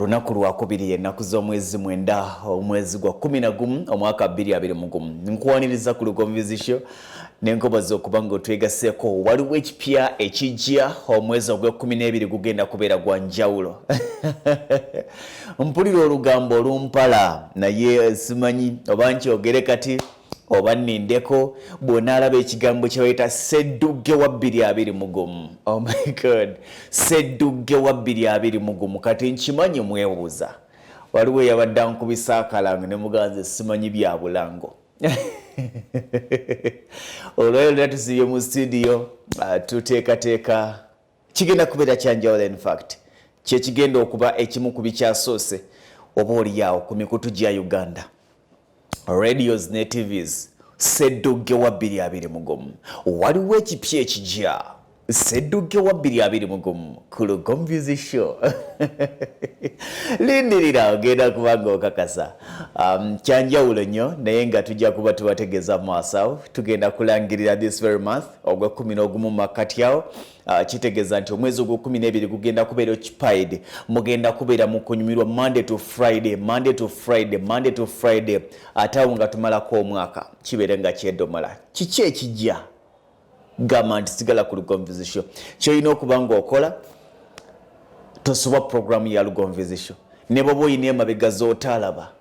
olunaku lwakubiri ennaku z'omwezi mwenda omwezi gwa kumi na gumu omwaka bbiri abiri mu gumu nkuwaniriza ku lugonvizisyo nenkoboza okuba nga otwegaseko waliwo ekipya ekijja omwezi ogwekumi n'ebiri gugenda kubeera gwa njawulo mpulira olugambo olumpala naye simanyi oba nkyogere kati oba nindeko bwonaalaba ekigambo kyebayita seddugge wa bbiri abiri mugumu oh my god seddugge wa bbiri abiri mugumu kati nkimanyi mwebuuza waliwo eyabadde ankubisa akalango ne muganzi simanyi bya bulango olwayo lera tusibye mu situdiyo ah, tuteekateeka kigenda kubeera kyanjawulo infact kyekigenda okuba ekimu ku bikyasoose oba oliyaawo ku mikutu gya uganda radios ne tvs seddugge wa 221 waliwo ekipya ekijya seddugge wa 221 ku lugonvizi show lindirira ogenda kubanga okakasa um, kyanjawulo nnyo naye nga tujja kuba tubategeeza maasawo tugenda kulangirira this very month ogw'ekkumi n'ogumu mu makkati awo ah, kitegeeza nti omwezi ogw'ekkumi n'ebiri gugenda kubeera occupied mugenda kubeera mu kunyumirwa monday to friday monday to friday monday to friday ate awo nga tumalako omwaka kibeere nga kyedomola kiki ekijja gamba nti sigala ku lugonvizisho kyolina okuba ngaokola tosoba puroguramu ya lugonvizisho ne bwoba olina emabega z'otalaba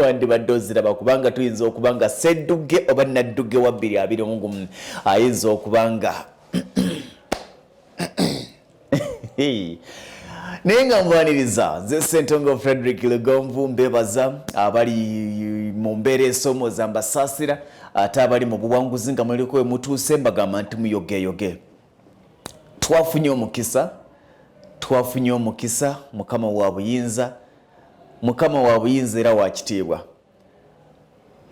wandibadde oziraba kubanga tuyinza okuba nga sedduge oba nadduge wa bbiri abiri omugumu ayinza okuba nga naye nga mwaniriza nze sentongo frederick lugonvu mbebaza abali mu mbeera esomooza mbasaasira ate abali mu buwanguzi nga muliko we mutuuse mbagamba nti muyogeyoge twafunye omukisa twafunye omukisa mukama wa buyinza mukama wa buyinza era wa kitiibwa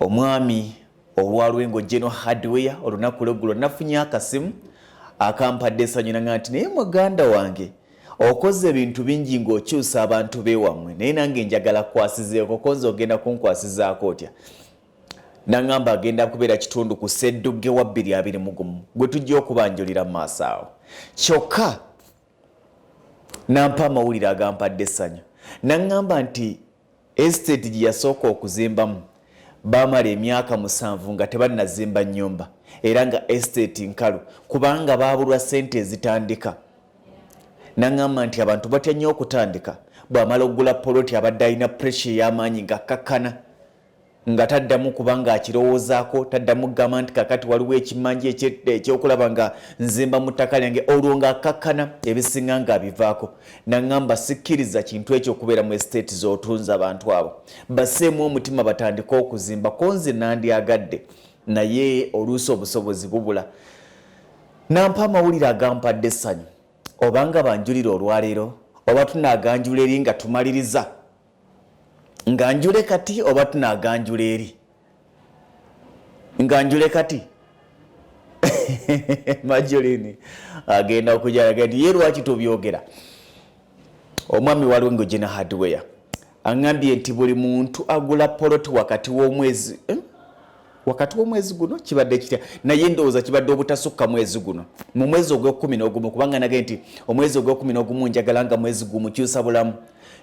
omwami olwalwe ng'ojjeno hardware olunaku lweggulo nafunye akasimu akampadde esanyu nanga nti naye muganda wange okoze ebintu bingi ng'okyusa abantu bewammwe naye nange njagala kwasizeeko konza ogenda kunkwasizaako otya nangamba agenda kubeera kitundu ku seddugge wa bbiri abiri mugumu gwe tujja okubanjulira mu maaso awo kyokka nampa amawulire agampadde essanyu naŋŋamba nti esiteeti gye yasooka okuzimbamu baamala emyaka musanvu nga tebannazimba nnyumba era nga esiteeti nkalu kubanga baabulwa ssente ezitandika naŋŋamba nti abantu batya nnyo okutandika bw'amala okugula poloti abadde alina puresha ey'amaanyi ng'akkakkana nga taddamu kuba ng'akirowoozaako taddamu kugamba nti kakati waliwo ekimanja ekyokulaba nga nzimba mu ttaka lyange olwo ng'akkakkana ebisinga ng'abivaako naŋŋamba sikkiriza kintu ekyo okubeera mu esiteeti z'otunza abantu abo baseemu omutima batandike okuzimba ko nze nandyagadde naye oluusi obusobozi bubula nampa amawulire agampadde essanyu obanga banjulira olwaleero oba tunaaganjula eri nga tumaliriza nga njule kati oba tunaganjula eri nga njule kati majolini agenda okujalaga nti ye lwaki tubyogera omwami waliwo nga ogina hardware aŋambye nti buli muntu agula poloti wakati w'omwezi eh? wakati w'omwezi guno kibadde kitya naye ndowooza kibadde obutasukka mwezi guno mu mwezi ogwekumi n'ogumu kubanga nage nti omwezi ogwekumi n'ogumu njagala nga mwezi gumu kyusa bulamu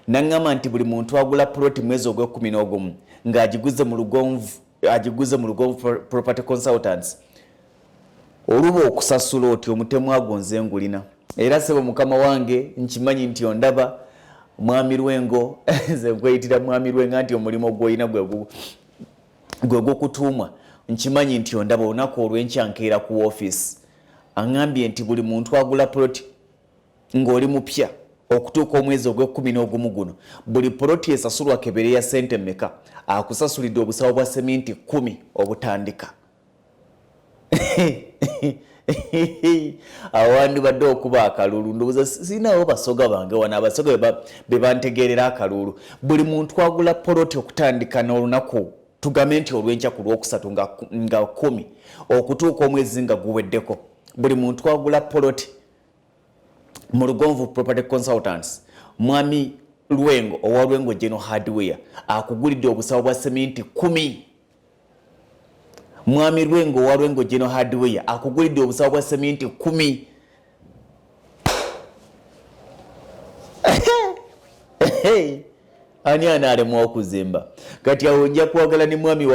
naŋŋamba nti buli muntu agula puloti mwezi ogwekumi n'ogumu ng'agiguze mu lugonvu agiguze mu lugonvu property consultants oluba okusasula oti omutemu ago nze ngulina era sebo mukama wange nkimanyi nti ondaba mwami lwengo nze nkweyitira mwami lwenga nti omulimu gwolina gwegugu gwe gwokutuumwa nkimanyi nti ondaba olunaku olwenkya nkeera ku woofiisi aŋambye nti buli muntu agula poloti ng'oli mupya okutuuka omwezi ogw'ekkumi n'ogumu guno buli poloti esasulwa kebere ya ssente mmeka akusasulidde obusawo bwa seminti kkumi obutandika awo wandibadde okuba akalulu ndowooza sirinawo basoga bange wano abasoga be bantegeerera akalulu buli muntu agula poloti okutandika n'olunaku tugambe nti olwenkya ku lwokusatu nga kumi okutuuka omwezi nga guweddeko buli muntu agula poloti mu lugonvu property consultants mwami lwengo owa lwengo geno hardware akugulidde obusawo bwa seminti kumi mwami lwengo owa lwengo geno hardware akugulidde obusawo bwa seminti kumi ani anaalemwa okuzimba kati awo nja kwagala ne mwami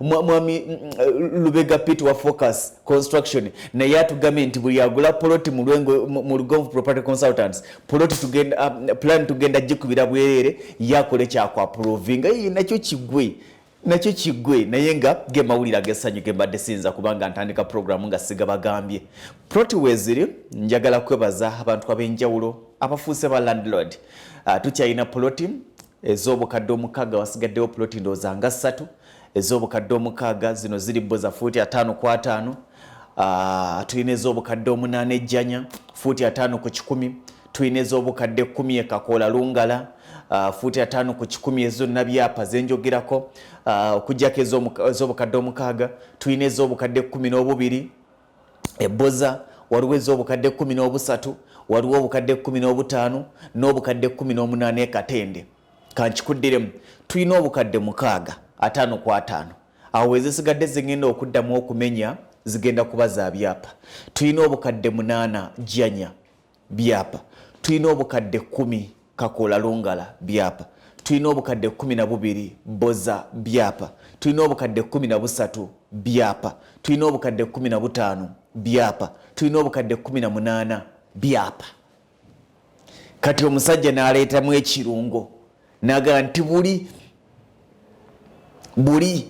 mwami mm, mm, lubega pit wa focus construction naye atugambe nti buli agula poloti mu lugonvu property consultants poloti um, plan tugenda gikubira bwerere yakola ekyakwapuloovinga ye nakyo kigwe nakyo kiggwe naye nga ge mawulire ag'essanyu ge mbadde siyinza kubanga ntandika pulogulaamu nga sigabagambye proti weeziri njagala kwebaza abantu ab'enjawulo abafuuse ba landlord uh, tukyalina poloti ez'obukadde omukaaga wasigaddewo poloti ndowooza nga ssatu ez'obukadde omukaaga zino ziri bo za fuuti ataano ku ataano Ah, tulina ez'obukadde omunaana ejjanya fuuti ataano ku kikumi tulina ez'obukadde kkumi ekakoola lungala ah, fuuti ataano ku kikumi ezonna byapa zenjogerako ah, okujjako ez'obukadde omukaaga tulina ez'obukadde kkumi n'obubiri ebboza waliwo ez'obukadde kkumi n'obusatu waliwo obukadde kkumi n'obutaano n'obukadde kkumi n'omunaana ekatende kankikuddiremu tulina obukadde mukaaga ataano ku ataano awo ezisigadde zigenda okuddamu okumenya zigenda kuba za byapa tulina obukadde munaana janya byapa tulina obukadde kumi kakoola lungala byapa tulina obukadde kumi na bubiri boza byapa tulina obukadde kumi na busatu byapa tulina obukadde kumi na butaano byapa tulina obukadde kumi na munaana byapa kati omusajja naleetamu ekirungo naga nti buli buli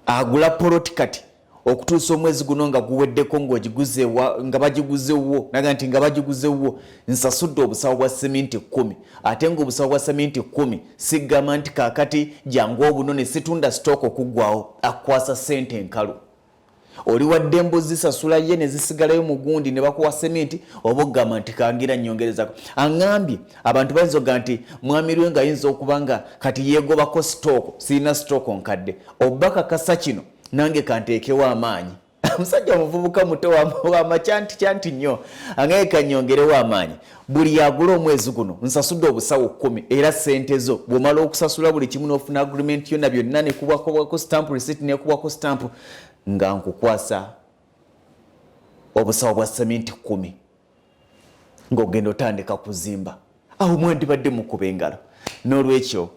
agula poloti kati okutuusa omwezi guno nga guweddeko ngaogiguzewa nga bagiguzewwo naga nti nga bagiguzewwo nsasudde obusawo bwa seminti kumi ate nga obusawo bwa seminti kumi sigamba nti kakati jangu obuno ne situnda sitooko okuggwawo akukwasa sente enkalu oli wadde embuzi zisasula ye ne zisigalayo mu gundi ne bakuwa seminti oba ogamba nti kangira nnyongerezako aŋambye abantu bayinza oga nti mwami lwe nga ayinza okuba nga kati yeegobako sitooko sirina sitooko nkadde oba kakasa kino nange kanteekewo amaanyi omusajja omuvubuka muto wamakyanti kyanti nnyo angeke kannyongerewo amaanyi Buli agula omwezi guno nsasudde obusawo kkumi era ssente zo bw'omala okusasula buli kimu n'ofuna agreement yonna byonna ne kubwakubwako stamp receipt ne kubwako stamp nga nkukwasa obusawo bwa seminti kkumi ng'ogenda otandika kuzimba awo mwandibadde mukuba engalo n'olwekyo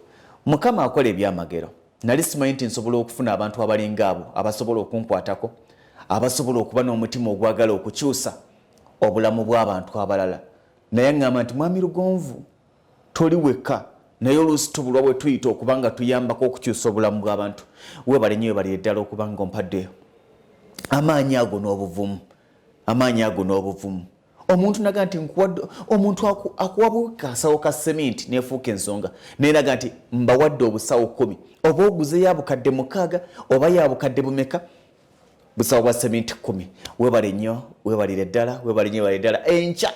mukama akola ebyamagero nali simanyi nti nsobola okufuna abantu abalinga abo abasobola okunkwatako abasobola okuba n'omutima ogwagala okukyusa obulamu bw'abantu abalala naye aŋŋamba nti mwami lugonvu toli wekka naye oluusi tubulwa bwe tuyita okuba nga tuyambako okukyusa obulamu bw'abantu webale nyo webale eddala okuba nga ompadde amaanyi ago n'obuvumu amaanyi ago n'obuvumu omuntu naga nti nkuwadde omuntu akuwabu kasawo ka seminti nefuuka ensonga naye naga nti mbawadde obusawo kumi oba oguze yabukadde mukaaga oba yabukadde bumeka busawo bwa seminti kumi webale nnyo webalire ddala webale nyo webale ddala enkya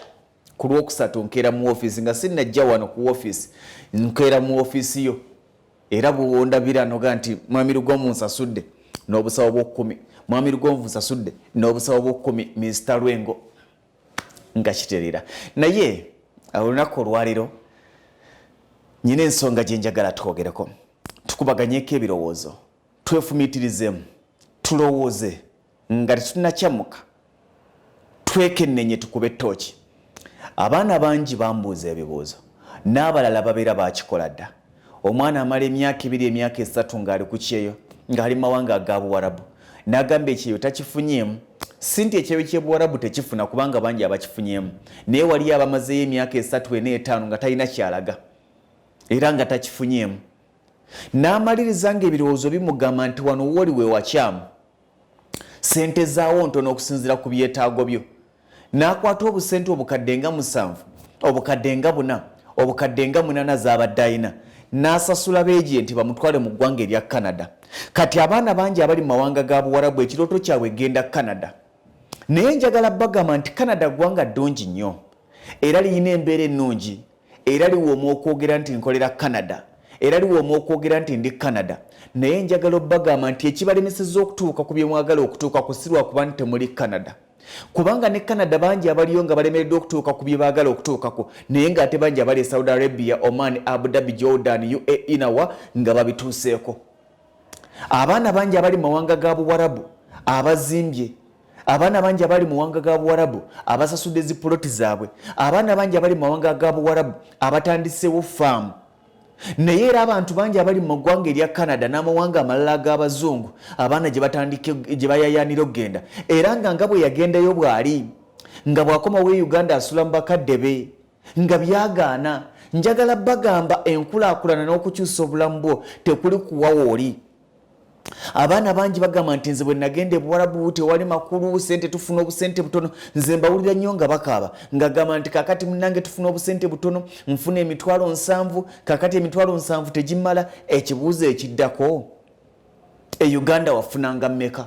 ku lwokusatu nkeera mu ofiisi nga sinnajja wano ku ofiisi nkeera mu ofiisi yo era bwondabira noga nti mwami lugomu nsasudde n'obusawo bwokumi mwami lugonvu nsasudde n'obusawo bwokumi minsita lwengo nga kiterera naye olunaku olwaliro nyina ensonga gyenjagala twogereko tukubaganyeko ebirowoozo Twefumiitirizemu, tulowooze nga tetunakyamuka, twekennenye tukube ttooki. Abaana bangi bambuuza ebibuuzo, n'abalala babeera baakikola dda. Omwana amala emyaka ebiri, emyaka esatu ng'ali ku kyeyo, ng'ali mu mawanga aga Buwarabu, n'agamba ekyeyo takifunyeemu. Si nti ekyeyo ky'e Buwarabu tekifuna kubanga bangi abakifunyeemu, naye waliyo abamazeeyo emyaka esatu, ena, etaano nga talina ky'alaga era nga takifunyeemu. N'amaliriza ng'ebirowoozo bimugamba nti wano wooli we wakyamu. Ssente zaawo ntono okusinziira ku byetaago byo. N'akwata obusente obukadde nga musanvu, obukadde nga buna, obukadde nga munana z'abadde alina n'asasula beejenti bamutwale mu ggwanga erya Canada. Kati abaana bangi abali mu mawanga ga Buwarabu ekirooto kyabwe genda Canada. Naye njagala bagamba nti Canada ggwanga ddungi nnyo era lirina embeera ennungi. era liwooma okwogera nti nkolera canada era liwooma okwogera nti ndi canada naye njagala obbagamba nti ekibalemeseza okutuuka ku byemwagala okutuuka ku sirwa kuba nti temuli canada kubanga ne canada bangi abaliyo nga balemereddwa okutuuka ku byebaagala okutuukako naye ngaate bangi abali e saudi arabia oman abu dhabi jordan uae nawa nga babituuseeko abaana bangi abali mumawanga ga buwarabu abazimbye abaana bangi abali muwanga ga buwarabu abasasudde zi poloti zaabwe abaana bangi abali mumawanga ga buwarabu abatandisewo faamu naye era abantu bangi abali mu ggwanga erya canada n'amawanga amalala ag'abazungu abaana gye bayayaanira okugenda era nga nga bwe yagendayo bw'ali nga bw'akomawo e uganda asula mu bakadde be nga byagaana njagala bagamba enkulaakulana n'okukyusa obulamu bwo tekuli kuwawo oli abaana bangi bagamba nti nze bwe nagenda ebuwarabu tewali makulu sente tufuna obusente butono nze mbawulira nnyo nga bakaaba ngagamba nti kakati munange tufuna obusente butono nfuna emitwalo nsanvu kakati emitwalo nsanvu tegimala ekibuuzo ekiddako e uganda wafunanga mmeka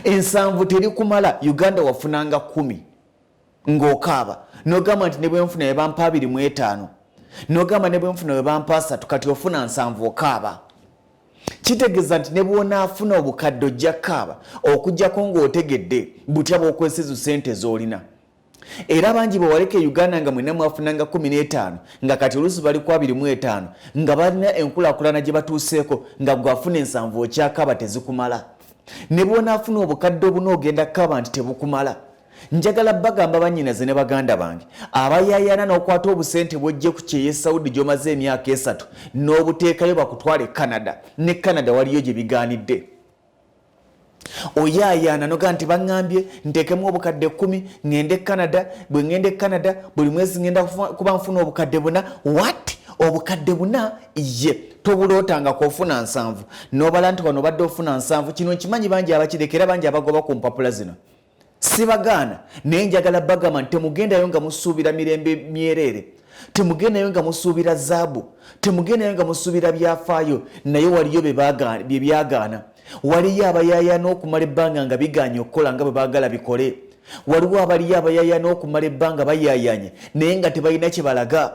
ensanvu terikumala uganda wafunanga kumi ng'okaaba n'ogamba nti ne bwe nfuna we bampa abiri mu etaano n'ogamba ne bwe nfuna we bampa asatu kati ofuna nsanvu okaaba kitegeeza nti ne bw'onaafuna obukadde ojja kaaba okujjako ng'otegedde butya bw'okwesizu ssente z'olina era bangi bwewaleka e uganda nga mwena mwafunanga 15 nga kati oluusi bali ku 25 nga balina enkulakulana gye batuuseeko nga gwafuna ensanvu okyakaaba tezikumala ne bwonaafuna obukadde obuna ogenda kukaaba nti tebukumala njagala bagamba banyinaze ne baganda bange abayayana n'okwata obusente bwojje ku kyeyo e saudi gy'omaze emyaka esatu n'obuteekayo bakutwale canada ne canada waliyo gye bigaanidde oyaayaana noga nti baŋŋambye nteekemu obukadde ekkumi ŋŋende e canada bwe ŋŋenda e canada buli mwezi ŋŋenda kuba nfuna obukadde buna wat obukadde buna ye tobulootanga kwofuna nsanvu nobala nti wano obadde ofuna nsanvu kino nkimanyi bangi abakirekera bangi abagoba ku mpapula zino Sibagaana naye njagala bagamba nti temugendayo nga musuubira mirembe myereere, temugendayo nga musuubira zaabu, temugendayo nga musuubira byafaayo, naye waliyo bye byagaana. Waliyo abayayaana okumala ebbanga nga bigaanye okukola nga bwe baagala bikole. Waliwo abaliyo abayayaana okumala ebbanga bayayaanye naye nga tebalina kye balaga.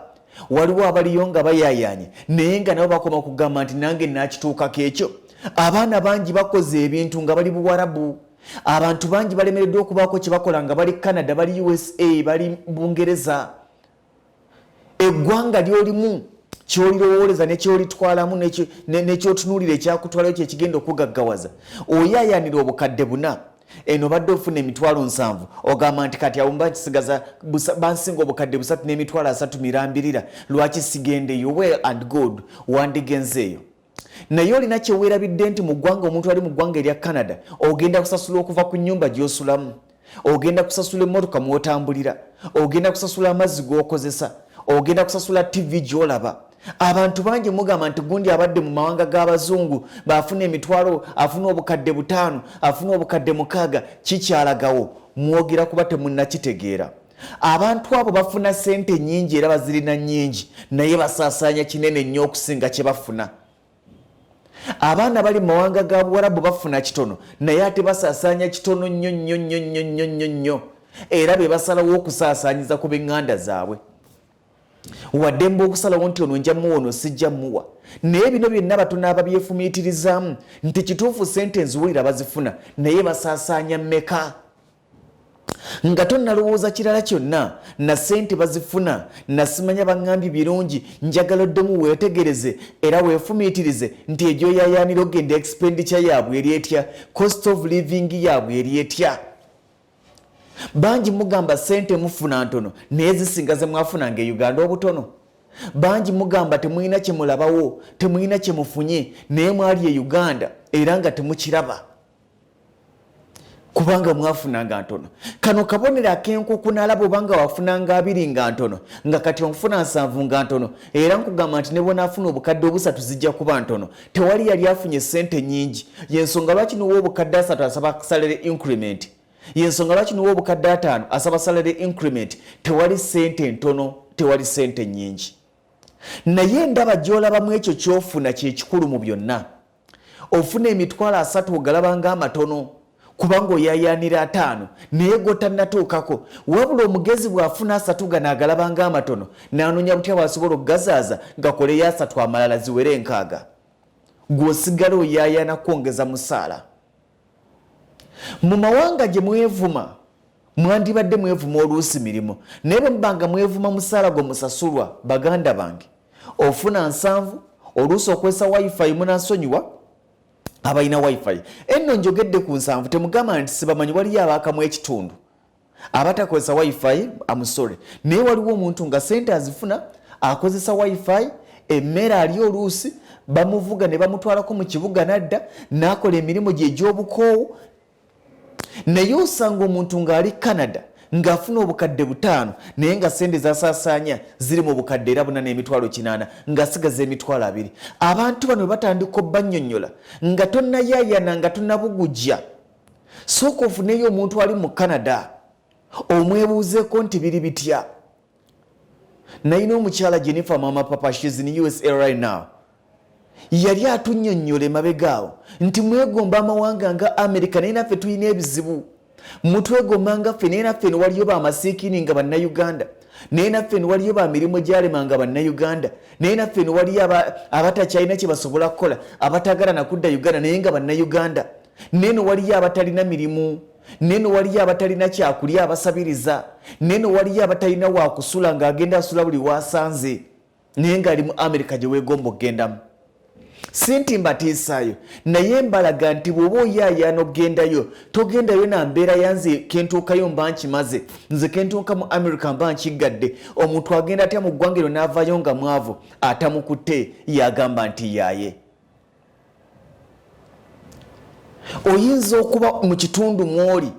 Waliwo abaliyo nga bayayaanye naye nga nabo bakoma kugamba nti nange naakituukako ekyo. Abaana bangi bakoze ebintu nga bali Buwarabu. abantu bangi balemereddwa okubaako kye bakola nga bali canada bali usa bali bungereza eggwanga lyolimu kyolirowooleza nekyolitwalamu nekyotunuulira ekyakutwalayo kyekigenda okugaggawaza oyayanira obukadde buna eno badde ofuna emitwalo nsanvu ogamba nti kati awumba kisigaza bansinga obukadde busatu n'emitwalo asatu mirambirira lwaki sigendeyo well and good wandigenzeeyo naye olina kyeweerabidde nti mu ggwanga omuntu ali mu ggwanga erya canada ogenda kusasula okuva ku nyumba gy'osulamu ogenda kusasula emmotoka mw'otambulira ogenda kusasula amazzi g'okozesa ogenda kusasula tivi gy'olaba abantu bangi mugamba nti gundi abadde mu mawanga g'abazungu baafuna emitwalo afuna obukadde butaano afuna obukadde mukaaga kikyalagawo mwogera kuba temunnakitegeera abantu abo bafuna sente nyingi era bazirina nyingi naye basaasaanya kinene nnyo okusinga kye bafuna abaana bali mumawanga ga buwarabu bafuna kitono naye ate basaasaanya kitono nnyo nnyo nnyo nnyo nnyo nnyo nnyo era be basalawo okusaasaanyiza ku benganda zaabwe waddemba okusalawo nti ono nja muwa ono sijja muwa naye bino byonna batono ababyefumiitirizaamu nti kituufu sente nziwulira bazifuna naye basaasaanya meka nga tonnalowooza kirala kyonna na ssente bazifuna nasimanya baŋŋambye birungi njagala oddemu weetegereze era weefumiitirize nti egyoyaayaanira ogenda expenditure yaabwe eri etya cost of living yaabwe eri etya bangi mugamba ssente mufuna ntono naye zisinga ze mwafunanga e uganda obutono bangi mugamba temulina kye mulabawo temulina kye mufunye naye mwali e uganda era nga temukiraba kubanga mwafunanga ntono kano kabonero akenkuku nalaba obanga wafunanga abiri nga ntono nga kati onfuna nsanvu nga ntono era nkugamba nti nebwonaafuna obukadde obusatu zijja kuba ntono tewali yali afunye sente nyingi yensonga lwaki niwa obukadde asatu asaba salary increment yensonga lwaki niwa obukadde ataano asaba salary increment tewali sente ntono tewali sente nyingi naye ndaba gyolabamu ekyo kyofuna kyekikulu mu byonna ofuna emitwalo asatu ogalaba nga amatono kubanga oyayaanira ataano naye gotannatuukako wabula omugezi bw'afuna asatu gano agalaba nga amatono n'anoonya butya bw'asobola okugazaaza gakoleyo asatu amalala ziwere enkaaga gw'osigala oyayaana kwongeza musaala Mu mawanga gye mwevuma mwandibadde mwevuma oluusi mirimu naye bwe muba nga mwevuma musaala gwe musasulwa baganda bange ofuna nsanvu oluusi okwesa wifi munasonyiwa abalina wifi enno njogedde ku nsanvu temugamba nti sibamanyi waliyo abaakamu ekitundu abatakozesa wifi amusore naye waliwo omuntu nga sente azifuna akozesa wifi emmere ali oluusi bamuvuga ne bamutwalako mu kibuga nadda n'akola emirimu gye egy'obukoowu naye osanga omuntu ng'ali canada ng'afuna obukadde butaano naye nga sente zasaasaanya ziri mu bukadde era buna n'emitwalo kinaana ng'asigaza emitwalo abiri abantu bano batandika obbannyonnyola nga tonnayayana nga tonnabugujja sooka ofuneyo omuntu ali mu canada omwebuuzeeko nti biri bitya nayina omukyala jennifer mama papa shes in usa right now yali atunyonyola emabegaawo nti mwegomba amawanga nga america naye naffe tulina ebizibu mutwegomba nga ffe naye naffe newaliyo bamasiikini nga bannauganda naye naffe newaliyo bamirimu gyalema nga bannauganda naye naffe newaliyo abatakyalina kyebasobola kukola abatagala nakudda uganda naye nga bannauganda neno waliyo abatalina mirimu neno waliyo abatalina kyakulya abasabiriza neno waliyo abatalina wakusula ngaagenda asula buli wasanze naye ngaali mu amerika gyewegomba okugendamu sinti mbatiisaayo naye mbalaga nti bwoba oyaayaana okugendayo togendayo na mbeera yanze kentuukayo mba nkimaze nze kentuuka mu america mba nkiggadde omuntu agenda atya mu ggwanga ero n'avayo nga mwavu atamukutte yagamba nti yaaye oyinza okuba mu kitundu mwoli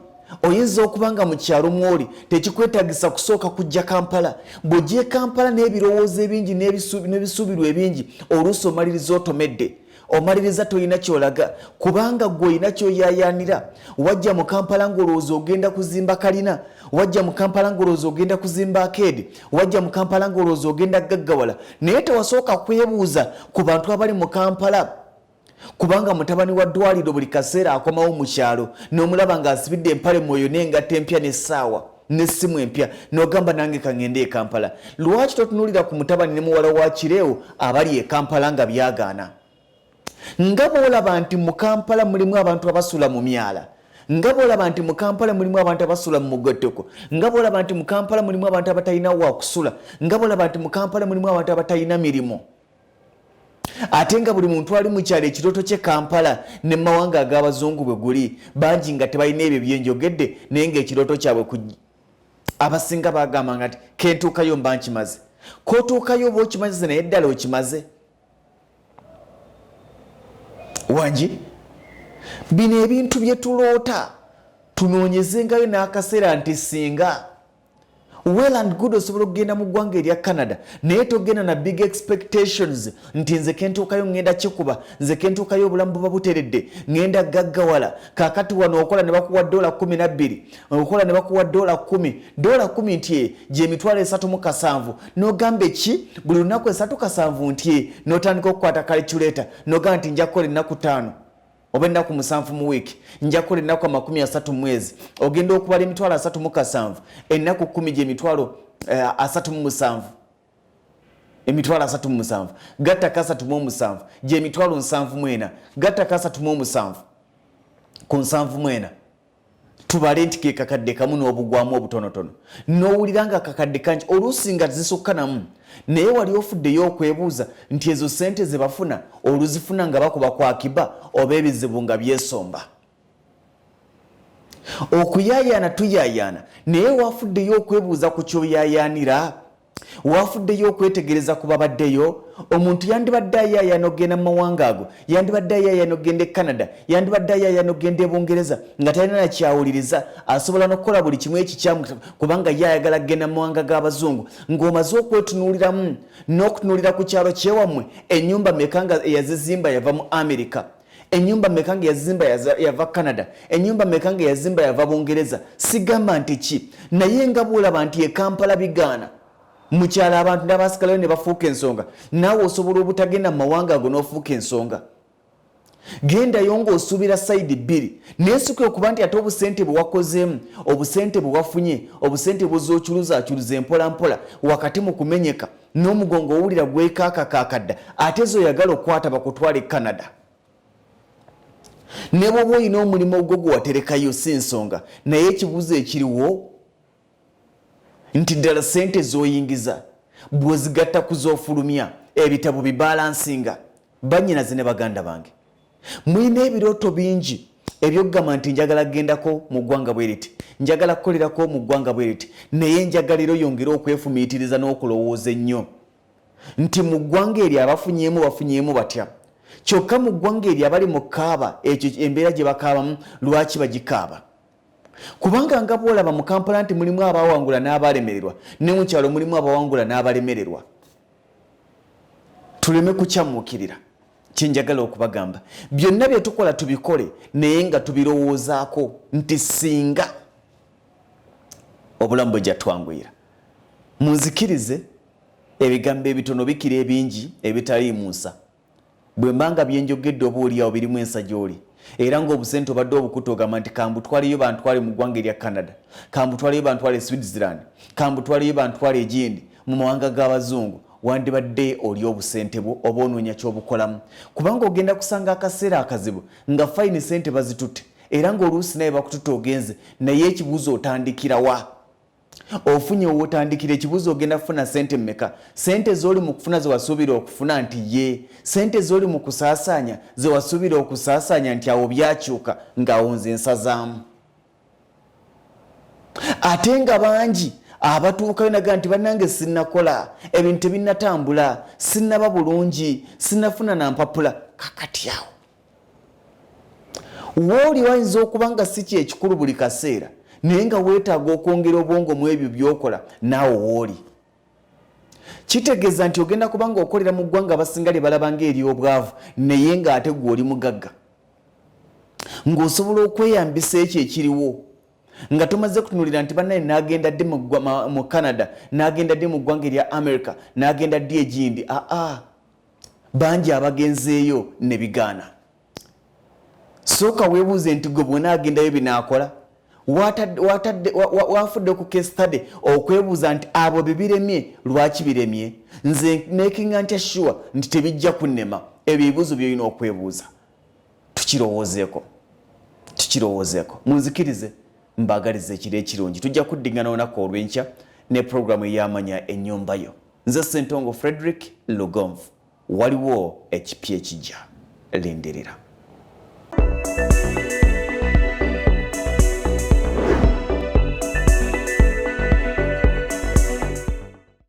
oyinza okuba nga mu kyalo mwoli tekikwetagisa kusooka kujja kampala bw'ojja e kampala n'ebirowoozo ebingi n'ebisuubirwa ebingi oluusi omaliriza otomedde omaliriza tolina kyolaga kubanga gwe olina kyoyayaanira wajja mu kampala ng'olowooza ogenda kuzimba kalina wajja mu kampala ng'olowooza ogenda kuzimba akeedi wajja mu kampala ngaolowooza ogenda gaggawala naye tewasooka kwebuuza ku bantu abali mu kampala kubanga mutabani wa ddwaliro buli kaseera akomawo mu kyalo n'omulaba ng'asibidde empale mwoyo n'engatta empya n'essaawa n'essimu empya n'ogamba nange kangende e kampala lwaki totunuulira ku mutabani ne muwala wa kireewo abali e kampala nga byagaana nga bwolaba nti mu kampala mulimu abantu abasula mu myala nga bwolaba nti mu kampala mulimu abantu abasula mu mugotteko nga bwolaba nti mu kampala mulimu abantu abatalina wakusula nga bwolaba nti mu kampala mulimu abantu abatalina mirimu ate nga buli muntu ali mu kyalo ekirooto kye kampala ne mumawanga ag'abazungu bwe guli bangi nga tebalina ebyo byenjogedde naye ngaekirooto kyabwe ku abasinga bagamba nga ti kentuukayo mba nkimaze kotuukayo oba okimaze naye ddala okimaze wangi bino ebintu bye tuloota tunoonyezengayo n'akaseera nti singa well and good osobola okugenda mu ggwanga erya canada naye togenda na big expectations nti nze kentuukayo ŋŋenda kikuba nze kentuukayo obulamu buba buteredde ŋŋenda gaggawala kakati wano okola ne bakuwa ddoola kumi nabbiri okola ne bakuwa dola kumi dola kumi nti eh, gyemitwalo esatu mu kasanvu nogamba eki buli lunaku esatu kasanvu nti eh, notandika okukwata kaliculeta nogamba nti nja kukola ennaku taano oba ennaku musanvu mu wiiki nja kukola ennaku amakumi asatu mwezi ogenda okubala emitwalo asatu mu kasanvu ennaku kumi gyemitwalo eh, asatu mu musanvu emitwalo asatu mu musanvu gattako asatu mu omusanvu gyemitwalo nsanvu mwena gattako asatu mu omusanvu ku nsanvu mwena tubale nti ke kakadde kamu n'obugwamu obutonotono n'owulira nga akakadde kangi oluusi nga zisukka namu naye wali ofuddeyo okwebuuza nti ezo ssente ze bafuna oluzifuna nga bakuba ku akiba oba ebizibu nga byesomba okuyaayaana tuyaayaana naye wafuddeyo okwebuuza ku kyoyaayaanira waafuddeyo okwetegereza ku babaddeyo omuntu yandibadde ayaayana okugenda mu mawanga ago yandibadde ayaayana okugenda e canada yandibadde ayaayana okugenda e bungereza nga talina nakyawuliriza asobola nokukola buli kimu ekikyamu kubanga ye ayagala kugenda mu mawanga g'abazungu ng'omaze okwetunuuliramu n'okutunuulira ku kyalo kyewammwe ennyumba meka nga eyazizimba yava mu amerika enyumba meka nga yazimba yava canada enyumba meka nga yazimba yava bungereza sigamba nti ki naye nga bwolaba nti ekampala bigaana mukyala abantu nabasikalayo ne bafuuka ensonga naawe osobola obutagenda mu mawanga ago n'ofuuka ensonga gendayo ngaosuubira sayidi bbiri naye sikuya okuba nti ate obusente bwe wakozeemu obusente bwe wafunye obusente bwoza ocuruza acuruza empolampola wakati mu kumenyeka n'omugongo owulira gwekaakakaakadda ate ezo oyagala okukwata bakutwala e canada ne bwoba olina omulimu ogwo gwe waterekayo si nsonga naye ekibuuzo ekiriwo nti ddala ssente z'oyingiza bw'ozigatta ku z'ofulumya ebitabo bibalansinga bannyinaze ne baganda bange mulina ebirooto bingi ebyokugamba nti njagala kugendako mu ggwanga bwe riti njagala kukolerako mu ggwanga bwe riti naye enjagalira oyongere okwefumiitiriza n'okulowooza ennyo nti mu ggwanga eryo abafunyeemu bafunyeemu batya kyokka mu ggwanga eryo abali mu kaaba ekyo embeera gye bakaabamu lwaki bagikaaba kubanga nga bwolaba mu kampala nti mulimu abawangula n'abalemererwa ne mu kyalo mulimu abawangula n'abalemererwa tuleme kukyamuukirira kyenjagala okubagamba byonna byetukola tubikole naye nga tubirowoozaako nti singa obulamu bwe jatwanguyira munzikirize ebigambo ebitono bikira ebingi ebitaliimunsa Bwe mba nga bye njogedde oba oli awo birimu ensa gy'oli, era nga obusente obadde obukutte ogamba nti kambutwaleyo bantwale mu ggwanga erya Canada, kambutwaleyo bantwale e Switzerland, kambutwaleyo bantwale egindi mu mawanga g'abazungu, wandibadde olya obusente bwo oba onoonya ky'obukolamu. Kubanga ogenda kusanga akaseera akazibu nga fayini sente bazitutte era ng'oluusi nawe bakututte ogenze naye ekibuuzo otandikira wa? ofunye wotandikira ekibuzo ogenda kufuna sente meka sente zoli mukufuna zewasuubira okufuna nti ye sente zoli mukusasanya zewasuubira okusasanya nti awo byakyuka ngaawo nze nsazaamu ate nga bangi abatuukayo naga nti banange sinakola ebintu tebinatambula sinaba bulungi sinafuna nampapula kakati awo wooli wayinza okuba nga si kyekikulu buli kaseera naye nga weetaaga okwongera obwongo mu ebyo byokola naawe wooli kitegeeza nti ogenda kuba nga okolera mu ggwanga abasinga lye balaba nga ery'obwavu naye ng'ate gwe oli mugagga ng'osobola okweyambisa ekyo ekiriwo nga tomaze kutunulira nti banaye nagenda ddi mu canada nagenda ddi mu ggwanga erya america nagenda ddi egindi aa ah, ah. bangi abagenzeeyo ne bigaana sooka weebuuze nti gwe bwona agendayo binaakola wafudde ku kestade okwebuuza nti abo bebiremye lwaki biremye nze makinga ntya sure nti tebijja kunnema ebyo ebibuuzo byolina okwebuuza tukirowoozeeko tukirowoozeeko munzikirize mbaagaliza ekiro ekirungi tujja kuddiŋana olunaku olw'enkya ne programu eyamanya ennyumba yo Nze Ssentongo Frederick Lugonvu, waliwo ekipya ekijja, lindirira.